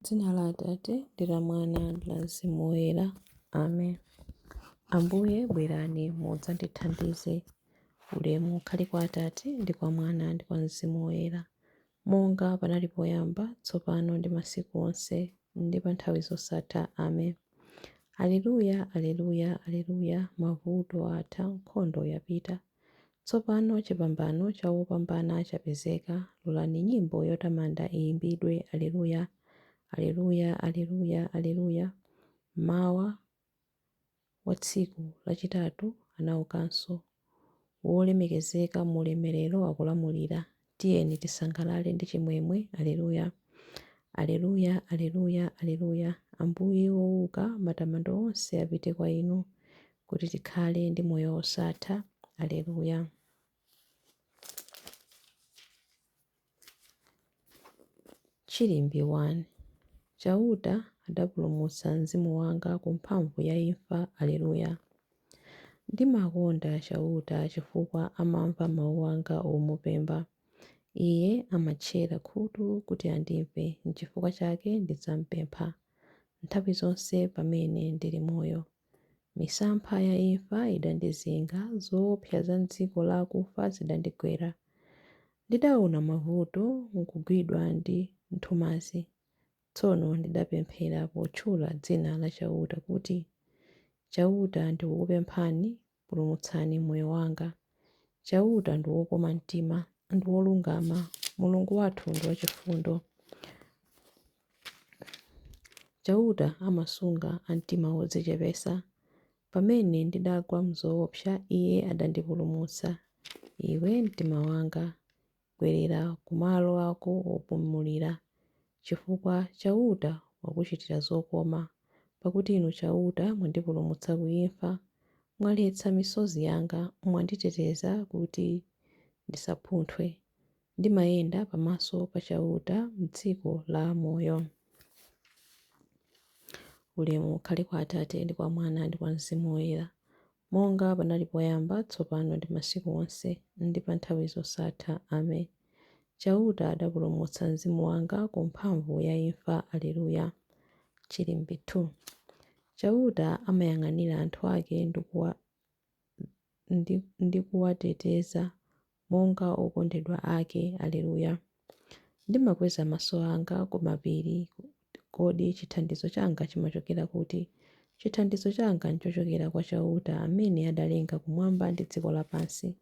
M'dzina la Atate, ndi la Mwana, ndi la Mzimu Woyera. Amen. Ambuye, bwerani mudzandithandize. Ulemu ukhale kwa Atate, ndi kwa Mwana, ndi kwa Mzimu Woyera, monga panali poyamba, tsopano, ndi masiku onse, ndi pa nthawi zosatha. Amen. Aleluya, aleluya, aleluya! Mavuto atha, nkhondo yapita. Tsopano chipambano cha wopambana chapezeka, lolani nyimbo yotamanda iyimbidwe, Aleluya! Aleluya! Aleluya! Aleluya! Mmawa wa tsiku lachitatu anaukanso, wolemekezeka mu ulemerero akulamulira. Tiyeni tisangalale ndi chimwemwe, Aleluya. Aleluya, Aleluya, Aleluya, Ambuye wouka, matamando onse apite kwa Inu, Kuti tikhale ndi moyo wosatha, Aleluya. Chilimbi 1 Chauta adapulumutsa mzimu wanga ku mphamvu ya imfa, Aleluya. Ndimakonda Chauta chifukwa amamva mau anga omupemba. Iye amatchera khutu kuti andimve, nchifukwa chake ndidzampempha nthawi zonse pamene ndili moyo. Misampha ya imfa idandizinga, zoopsa za m'dziko la akufa zidandigwera. Ndidaona mavuto nkugwidwa ndi nthumazi. Tsono ndidapemphera potchula dzina la Chauta kuti, Chauta, ndikukupemphani, pulumutsani moyo wanga. Chauta ndi wokoma mtima, ndi wolungama, Mulungu wathu ndi wachifundo. Chauta amasunga a mtima wodzichepetsa. Pamene ndidagwa m'zoopsa, Iye adandipulumutsa. Iwe mtima wanga, Bwerera ku malo ako opumulira, chifukwa Chauta wakuchitira zokoma, pakuti Inu Chauta mwandipulumutsa ku imfa. Mwaletsa misozi yanga, mwanditeteza kuti ndisaphunthwe. Ndimayenda pamaso pa Chauta m'dziko la amoyo. Ulemu ukhale kwa Atate, ndi kwa Mwana, ndi kwa Mzimu Woyera, Monga panali poyamba, tsopano ndi masiku onse, ndi pa nthawi zosatha. Amen. Chauta adapulumutsa mzimu wanga ku mphamvu ya imfa. Aleluya. Chilimbi 2 Chauta amayang'anira anthu ake ndi kuwateteza monga okondedwa ake. Aleluya! Ndimakweza maso anga ku mapiri. Kodi chithandizo changa chimachokera kuti? Chithandizo changa n'chochokera kwa Chauta amene adalenga kumwamba ndi dziko lapansi.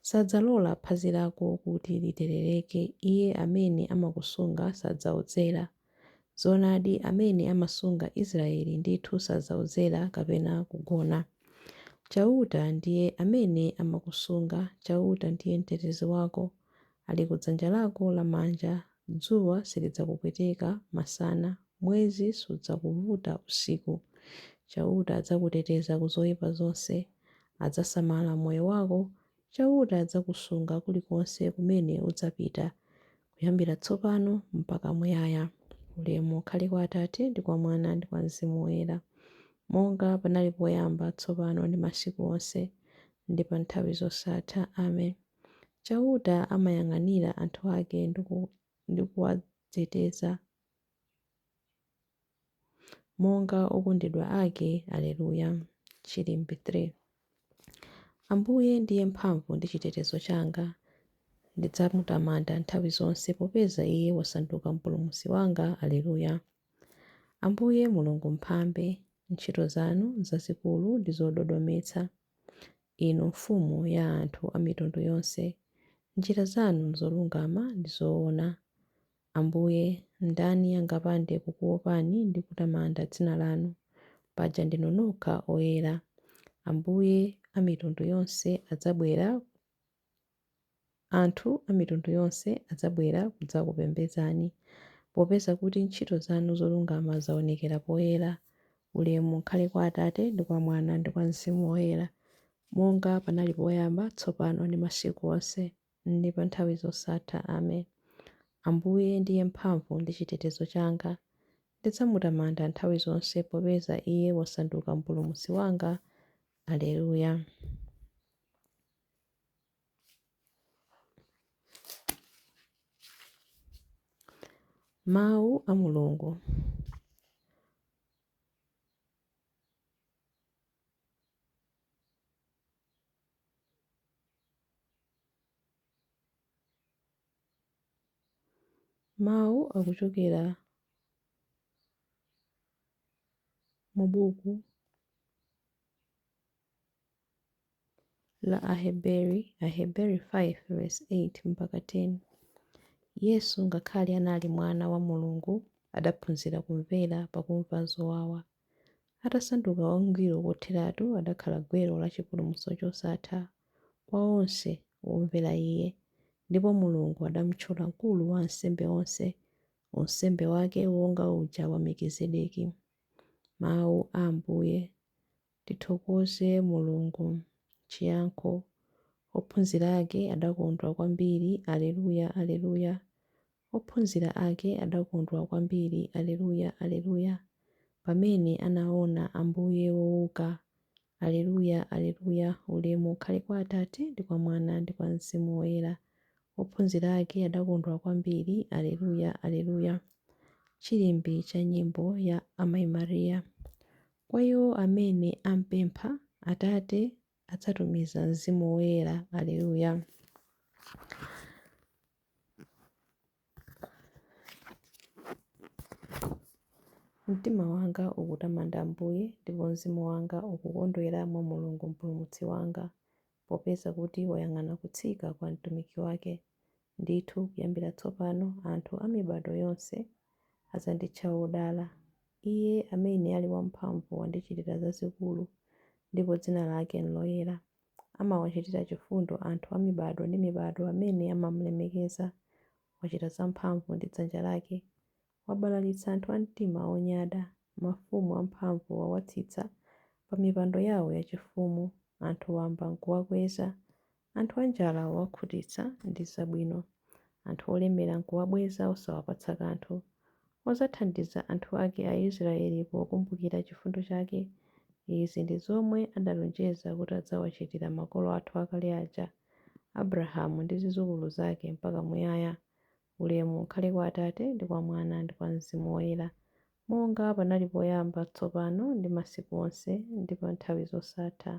Sadzalola phazi lako kuti literereke, Iye amene amakusunga sadzaodzera. Zoonadi, amene amasunga Israyeli ndithu sadzaodzera kapena kugona. Chauta ndiye amene amakusunga, Chauta ndiye mtetezi wako, ali ku dzanja lako lamanja, dzuwa silidzakupweteka masana, mwezi sudzakuvuta usiku. Chauta adzakuteteza ku zoipa zonse, adzasamala moyo wako, Chauta adzakusunga kulikonse kumene udzapita. kuyambira tsopano mpaka muyaya. Ulemu ukhale kwa Atate, ndi kwa Mwana, ndi kwa Mzimu Woyera, monga panali poyamba, tsopano, ndi masiku onse, ndi pa nthawi zosatha. Amen. Chauta amayang'anira anthu ake ndi kuwateteza. monga okondedwa ake. Aleluya! Chilimbi 3. Ambuye ndiye mphamvu ndi chitetezo changa, ndidzamutamanda nthawi zonse, popeza Iye wasanduka Mpulumutsi wanga. Aleluya! Ambuye Mulungu Mphambe, ntchito zanu nzazikulu ndi zododometsa, Inu Mfumu ya anthu a mitundu yonse, njira zanu nzolungama ndi zoona. Ambuye, ndani angapande kukuopani ndi kutamanda dzina lanu, paja ndinu nokha oyera. Ambuye, amitundu yonse adzabwera, anthu a mitundu yonse adzabwera kudzakupembedzani, popeza kuti ntchito zanu zolungama zaonekera poyera. Ulemu ukhale kwa Atate, ndi kwa Mwana, ndi kwa Mzimu Woyera, monga panali poyamba, tsopano, ndi masiku onse. ndi pa nthawi zosatha. Amen. Ambuye ndiye mphamvu ndi chitetezo changa, ndidzamutamanda nthawi zonse, popeza Iye wasanduka Mpulumutsi wanga. Aleluya. Mawu a Mulungu. Mawu akuchokera mu buku la Aheberi, Aheberi 5 8 mpaka 10. Yesu, ngakhale anali Mwana wa Mulungu, adaphunzira kumvera pakumva zowawa. Atasanduka wangwiro kotheratu adakhala gwero la chipulumutso chosatha kwa onse womvera Iye, ndipo Mulungu adamtchula mkulu wa ansembe onse, unsembe wake wonga uja wa Mekizedeki. Mawu a Ambuye. Tithokoze Mulungu. Chiyankho. Ophunzira ake adakondwa kwambiri. Aleluya, Aleluya. Ophunzira ake adakondwa kwambiri, Alleluia, Alleluia, pamene anaona Ambuye wouka, Alleluia, Alleluia, Ulemu ukhale kwa Atate, ndi kwa Mwana, ndi kwa Mzimu Woyera. Ophunzira ake adakondwa kwambiri, Alleluia, Alleluia, Chilimbi cha nyimbo ya Amayi Maria. Kwa iwo amene ampempha, Atate adzatumiza Mzimu Woyera, Alleluia. Mtima wanga ukutamanda Ambuye, ndipo mzimu wanga ukukondwera mwa Mulungu Mpulumutsi wanga, popeza kuti wayang'ana kutsika kwa mtumiki wake. Ndithu kuyambira tsopano anthu a mibado yonse adzanditcha wodala. Iye amene ali wamphamvu wandichitira zazikulu, ndipo dzina lake n'loyera. Amawachitira chifundo anthu a mibado ndi mibado amene amam'lemekeza. Wachita zamphamvu ndi dzanja lake. Wabalalitsa anthu a mtima onyada. Mafumu amphamvu wawatsitsa pamipando yawo yachifumu. Anthu wamba n'kuwakweza. Anthu anjala wawakhutitsa ndi zabwino. Anthu olemera n'kuwabweza osawapatsa kanthu. Wadzathandiza anthu ake Aisraeli pokumbukira chifundo chake, izi ndi zomwe adalonjeza kuti adzawachitira makolo athu akale aja, Abrahamu ndi zidzukulu zake mpaka muyaya. Ulemu ukhale kwa Atate, ndi kwa Mwana, ndi kwa Mzimu Woyera, monga panali poyamba, tsopano ndi masiku onse, ndi pa nthawi zosatha.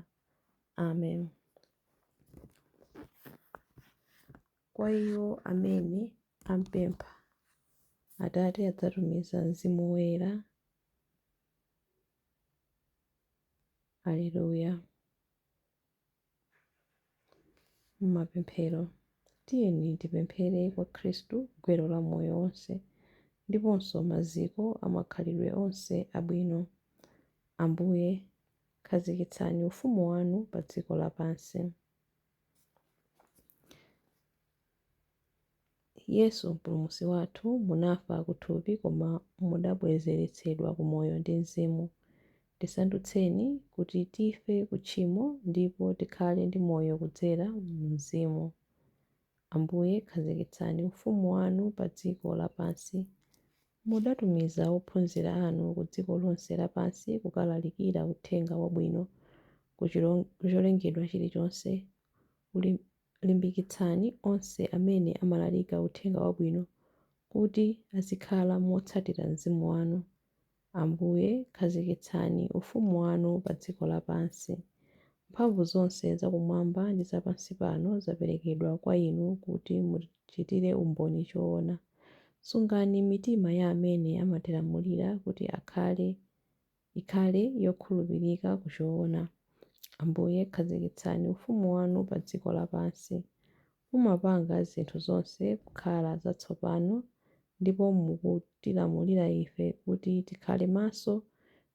Amen. kwa iwo amene ampempha, Atate adzatumiza Mzimu Woyera. Aleluya! Mapemphero. Tiyeni tipemphere kwa Khristu gwero la moyo wonse ndiponso maziko a makhalidwe onse abwino, Ambuye, khazikitsani ufumu wanu padziko lapansi. Yesu Mpulumutsi wathu, munafa ku thupi koma mudabwezeretsedwa ku moyo ndi Mzimu. Tisandutseni kuti tife ku tchimo ndipo tikhale ndi moyo kudzera mu Mzimu. Ambuye, khazikitsani ufumu wanu pa dziko lapansi. Mudatumiza ophunzira anu ku dziko lonse lapansi kukalalikira Uthenga Wabwino ku cholengedwa chilichonse. Limbikitsani onse amene amalalika Uthenga Wabwino kuti azikhala motsatira Mzimu wanu. Ambuye, khazikitsani ufumu wanu pa dziko lapansi. Mphamvu zonse za kumwamba ndi za pansi pano zaperekedwa kwa inu kuti mu. chitire umboni choona. Sungani mitima ya amene amatilamulira kuti akhale ikhale yokhulupirika ku choona. Ambuye, khazikitsani ufumu wanu pa dziko lapansi. Mumapanga zinthu zonse kukhala zatsopano ndipo mukutilamulira ife kuti tikhale maso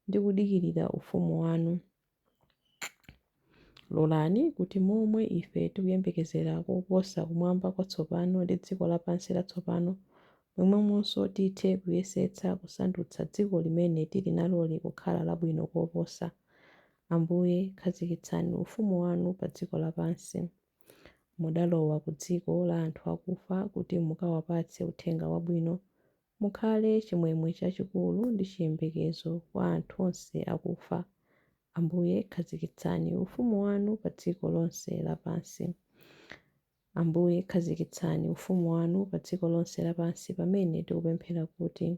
ndi kudikirira ufumu wanu. Lolani kuti momwe ife tikuyembekezera koposa kumwamba kwatsopano ndi dziko lapansi latsopano, momwemonso tithe kuyesetsa kusandutsa dziko limene tili naloli kukhala labwino koposa. Ambuye, khazikitsani ufumu wanu pa dziko lapansi. Mudalowa ku dziko la anthu akufa kuti mukawapatse uthenga wabwino Mukhale chimwemwe chachikulu ndi chiyembekezo kwa anthu onse akufa, Ambuye, khazikitsani ufumu wanu pa dziko lonse lapansi. Ambuye, khazikitsani ufumu wanu pa dziko lonse lapansi pamene tikupemphera kuti,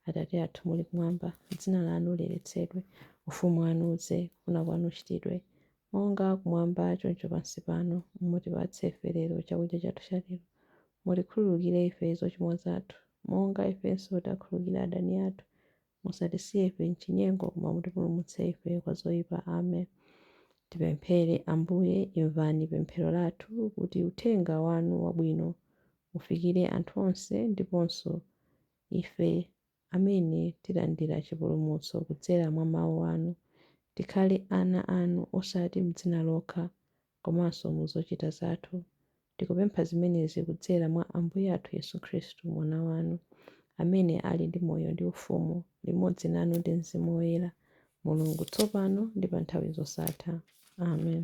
Atate athu muli kumwamba, dzina lanu liyeretsedwe, ufumu wanu udze, kufuna kwanu kuchitidwe, Monga kumwamba choncho pansi pano, mutipatse ife lero chakudya chathu cha lero. Mutikhululukire ife zochimwa zathu, monga ifenso tiakhululukira adani athu. Musatisiye ife m'chinyengo, koma mutipulumutse ife kwa zoipa. Amen. Tipemphere, Ambuye, imvani pemphero lathu kuti uthenga wanu wabwino ufikire anthu onse ndiponso ife. amene tilandira chipulumutso kudzera mwa Mau anu, tikhale ana anu osati m'dzina lokha komanso mu zochita zathu. Tikupempha zimenezi kudzera mwa Ambuye athu Yesu Khristu, Mwana wanu, amene ali ndi moyo ndi ufumu limodzi nanu ndi Mzimu Woyera, Mulungu, tsopano ndi pa nthawi zosatha. Amen.